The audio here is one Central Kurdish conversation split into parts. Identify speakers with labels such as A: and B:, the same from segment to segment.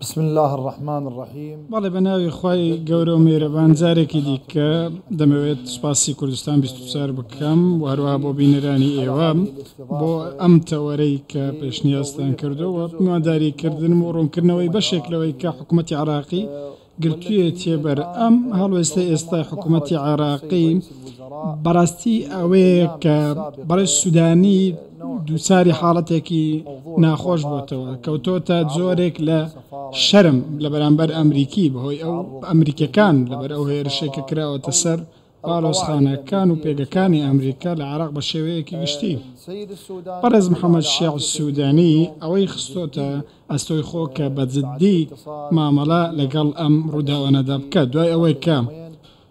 A: بسم اللە الرحمن الرحیم. بەڵێ بەناوی خوای
B: گەورە و میهرەبان جارێکی دیکە دەمەوێت سوپاسی کوردستان بیست و چوار بکەم و هەروەها بۆ بینەرانی ئێوە بۆ ئەم تەوەرەی کە پێشنیازتان کردووە و میوانداری کردنم و ڕوونکردنەوەی بەشێک لەوەی کە حکومەتی عراقی گرتویەتیە بەر ئەم هەڵوێستەی ئێستای حکومەتی عێراقی بەڕاستی ئەوەیە کە بەڕێز سودانی دووچاری حاڵەتێکی ناخۆش بۆتەوە کەوتۆتە جۆرێک لە شەرم لە بەرامبەر ئەمریکی بەهۆی ئەو ئەمریکەکان لەبەر ئەو هێرشێکە کراوەتە سەر باڵۆزخانە کان و پێگەکانی ئەمریکا لە عێراق بە شێوەیەکی گشتی بەڕێز محەمەد شیاع سودانی ئەوەی خستۆتە ئەستۆی خۆ کە بە جدی مامەڵە لەگەڵ ئەم ڕوداوانەدا بکات دوای ئەوەی کە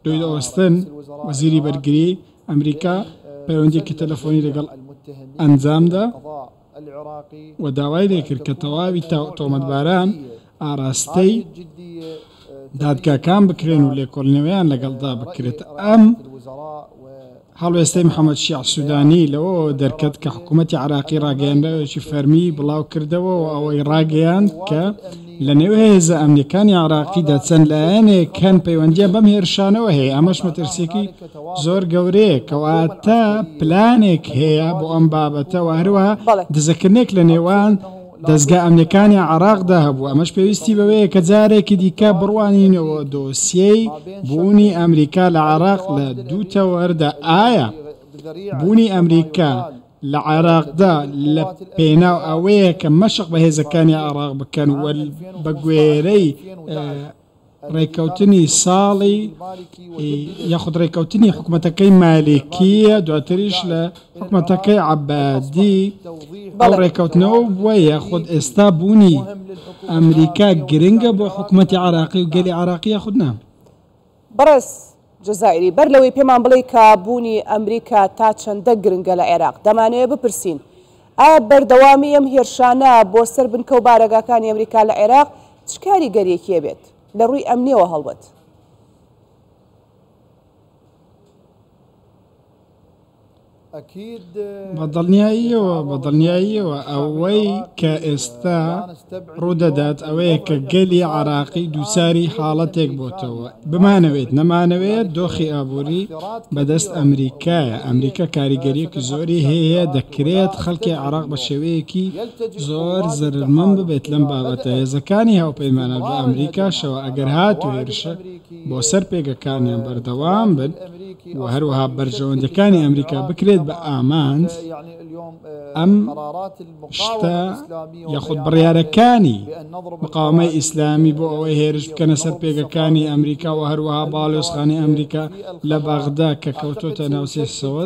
B: لوید ئۆستن وەزیری بەرگری ئەمریکا پەیوەندیەکی تەلەفۆنی لەگەڵ ئەنجامدا. و داوای لێ کرد کە تەواوی تۆمەتباران ئاراستەی دادگاکان بکرێن و لێکۆڵینەوەیان لەگەڵدا بکرێت. ئەم هەڵوێستەی محەمەد شیاع سودانی لەوەوە دەرکەت کە حکوومەتی عێراقی ڕاگەیێنراوێکی فەرمیی بڵاو کردەوە و ئەوەی ڕاگەیاند کە، لە نێو هێزە ئەمنیەکانی عێراقیدا چەند لایەنێک هەن پەیوەندیان بەم هێرشانەوە هەیە، ئەمەش مەترسیەکی زۆر گەورەیە، کەواتە پلانێک هەیە بۆ ئەم بابەتە و هەروەها دزەکردنێک لە نێوان دەزگا ئەمنیەکانی عێراقدا هەبوو، ئەمەش پێویستی بەوەیە کە جارێکی دیکە بڕوانینەوە دۆسیەی بوونی ئەمریکا لە عێراق لە دوو تەوەردا ئایا بوونی ئەمریکا لە عێراقدا لە پێناو ئەوەیە کە مەشق بە هێزەکانی عێراق بکەن و بە گوێرەی ڕێککەوتنی ساڵی یاخود ڕێککەوتنی حکوومەتەکەی مالکیە دواتریش لە حکوومەتەکەی عبادی بەڵ ڕێککەوتنەوە بووە یاخود ئێستا بوونی ئەمریکا گرنگە بۆ حکوومەتتی عراقی و گەلی عراقیە خودنا. بەڕێز
C: جەزائیری، بەر لەوەی پێمان بڵێی کە بوونی ئەمریکا تا چەندە گرنگە لە عێراق، دەمانەوێت بپرسین، ئایا بەردەوامیی ئەم هێرشانە بۆ سەر بنکە و بارەگاکانی ئەمریکا لە عێراق چ کاریگەرییەکی ئەبێت لە ڕووی ئەمنییەوە هەڵبەت؟
B: بە دڵنیاییەوە، بە دڵنیاییەوە ئەوەی کە ئێستا ڕوودەدات ئەوەیە کە گەلی عێراقی دووچاری حاڵەتێک بۆتەوە، بمانەوێت نەمانەوێت دۆخی ئابووری بەدەست ئەمریکایە، ئەمریکا کاریگەرییەکی زۆری هەیە، دەکرێت خەڵکی عێراق بە شێوەیەکی زۆر زەرەرمەند ببێت لەم بابەتە، هێزەکانی هاوپەیمانان و ئەمریکاشەوە ئەگەر هاتوو هێرشێک. بۆ سەر پێگەکانیان بەردەوام بن و هەروەها بەرژەوەندیەکانی ئەمریکا بکرێت بە ئامانج ئەم شتە یاخود بڕیارەکانی مقاومەی ئیسلامی بۆ ئەوەی هێرش بکەنە سەر پێگەکانی ئەمریکا و هەروەها باڵێۆزخانی ئەمریکا لە بەغدا کە کەوتۆتە ناوسێسەوە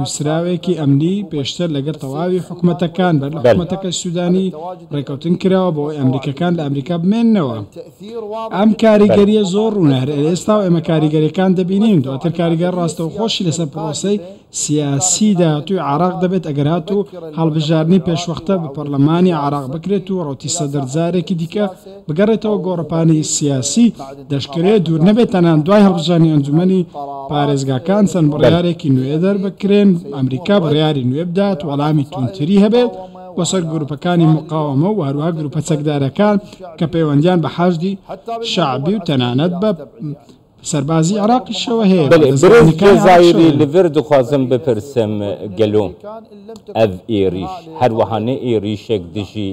B: نوسراوێکی ئەمنی پێشتر لەگەر تەواوی حکومەتەکان بەر لە حکومەتەکەی سودانی ڕێکەوتن کراوە بۆ ئەوەی ئەمریکەکان لە ئەمریکا بمێننەوە ئەم کاریگەریە زۆر ڕونە هەر ئێستاو ئێمە کاریگەریەکان دەبینین دواتر کاریگەر ڕاستەوخۆشی لەسەر پرۆسەی سیاسی داهاتوی عێراق دەبێت ئەگەر هاتو هەڵبژاردنی پێشوەختە بە پەرلەمانی عێراق بکرێت و ڕەوتی سەدر جارێکی دیکە بگەڕێتەوە گۆڕەپانی سیاسی دەشکرێت دوور نەبێت تەنان دوای هەڵبژاردنی ئەنجومەنی پارێزگاکان چەند بڕیارێکی نوێ دەربکرێن ئەمریکا بڕیاری نوێ بدات وەڵامی توندتری هەبێت بۆ سەر گروپەکانی مقاوەمە و هەروەها گروپە چەکدارەکان کە پەیوەندیان بە حەشدی شەعبی و تەنانەت بە سەربازی عێراقیشەوە هەیە بەلێ برێز جەزایری
D: لڤر دخوازم بپرسم گەلۆ ئەڤ ئێریش هەروەهانە ئێریشێک دژی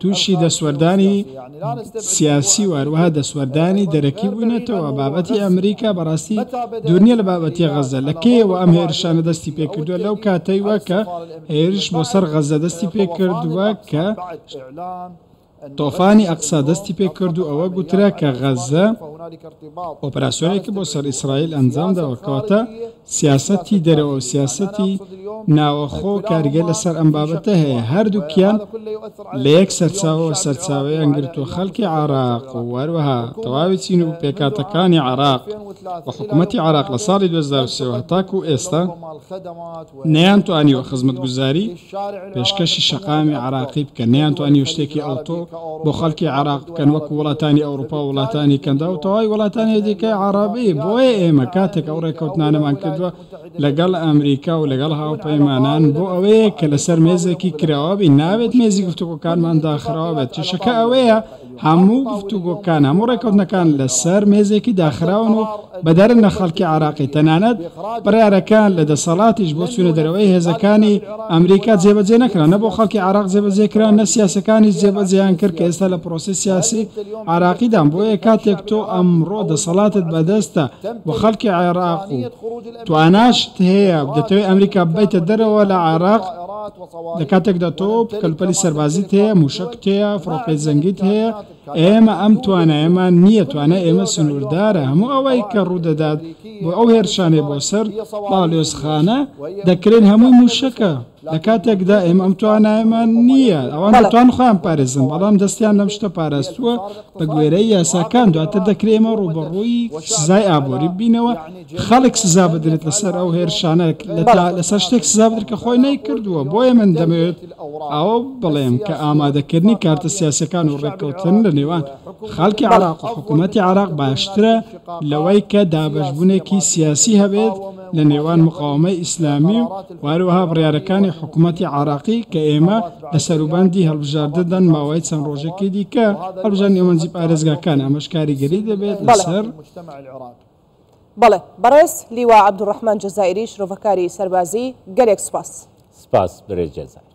B: تووشی دەستوەردانی سیاسی و هەروەها دەستوەردانی دەرەکی بووینەتەوە، بابەتی ئەمریکا بەڕاستی دوور نییە لە بابەتی غەززە، لە کەیەوە ئەم هێرشانە دەستی پێکردووە، لەو کاتەیوە کە هێرش بۆ سەر غەززە دەستی پێکردووە، کە تۆفانی ئەقسا دەستی پێکرد و ئەوە گوترا کە غەززە ئۆپەراسیۆنێکی بۆ سەر ئیسرائیل ئەنجامداوە، کەواتە سیاسەتی دەرەوە و سیاسەتی ناوەخۆ کاریگەر لەسەر ئەم بابەتە هەیە، هەردووکیان لە یەک سەرچاوەوە سەرچاوەیان گرتووە، خەڵکی عێراق و هەروەها تەواوی چین و پێکهاتەکانی عێراق و حکومەتی عێراق لە ساڵی دوو هەزار و سێ و هەتاکوو ئێستا نەیانتوانیوە خزمەتگوزاری پێشکەشی شەقامی عەراقی بکەن نەیانتوانیوە شتێکی ئەوتۆ بۆ خەڵکی عەراق بکەن وەکو وڵاتانی ئەوروپا و وڵاتانی کەندا و تەواوی وڵاتانی دیکەی عەڕەبی بۆیە ئێمە کاتێک ئەو ڕێکەوتنانەمان کردوە لەگەڵ ئەمریکا و لەگەڵ هاوپەیمانان بۆ ئەوەیە کە لەسەر مێزێکی کراوە بین نابێت مێزی گفتوگۆکانمان داخراوە بێت کێشەکە ئەوەیە هەموو گفتوگۆکان، هەموو ڕێککەوتنەکان لەسەر مێزێکی داخراون و بەدەرنە خەڵکی عێراقی، تەنانەت بڕیارەکان لە دەسەڵاتیش بۆ چوونە دەرەوەی هێزەکانی ئەمریکا جێبەجێ نەکران، نە بۆ خەڵکی عێراق جێبەجێ کران، نە سیاسیەکانیش جێبەجێیان کرد کە ئێستا لە پرۆسەی سیاسی عێراقیدان، بۆیە کاتێک تۆ ئەمڕۆ دەسەڵاتت بەدەستە و خەڵکی عێراق و تواناشت هەیە، دەتەوێت ئەمریکا ببەیتە دەرەوە لە عێراق، لە کاتێکدا تۆ کەلوپەلی سەربازیت هەیە، مووشەکت هەیە، فڕۆکەی جەنگیت هەیە، ئێمە ئەم توانایەمان نییە، توانای ئێمە سنووردارە، هەموو ئەوەی کە ڕوودەدات بۆ ئەو هێرشانەی بۆ سەر باڵیۆزخانە دەکرێن هەمووی مووشەکە، لە کاتێکدا ئێمە ئەم توانایەمان نییە، ئەوان دەتوانن خۆیان بپارێزن، بەڵام دەستیان لەم شتە پاراستووە بەگوێرەی یاساکان، دواتر دەکرێ ئێمە ڕووبەڕووی سزای ئابووری ببینەوە. خەڵک سزا بدرێت لەسەر ئەو هێرشانە لەسەر شتێک سزا بدرێت کە خۆی نەیکردووە بۆیە من دەمەوێت ئەوە بڵێم کە ئامادەکردنی کارتە سیاسیەکان و ڕێککەوتن لە نێوان خەڵکی عراق و حکوومەتی عراق باشترە لەوەی کە دابەشبوونێکی سیاسی هەبێت لە نێوان مقاومەی ئیسلامی و واروها بڕارەکانی حکوومەتی عراقی کە ئێمە لە سەروبەندی هەڵبژاردەدەن ماوەی چەند ڕۆژێکی دیکە هەڵبژان ئێوەنجی پارێزگاکان ئەمەش کاریگەری دەبێت لەسەر
C: بەڵێ بەڕێز لیوا عەبدولڕەحمان جەزائیری
D: شرۆڤەکاری
C: سەربازی گەلێک سوپاس. سپاس
D: برێ
C: جەزائیر.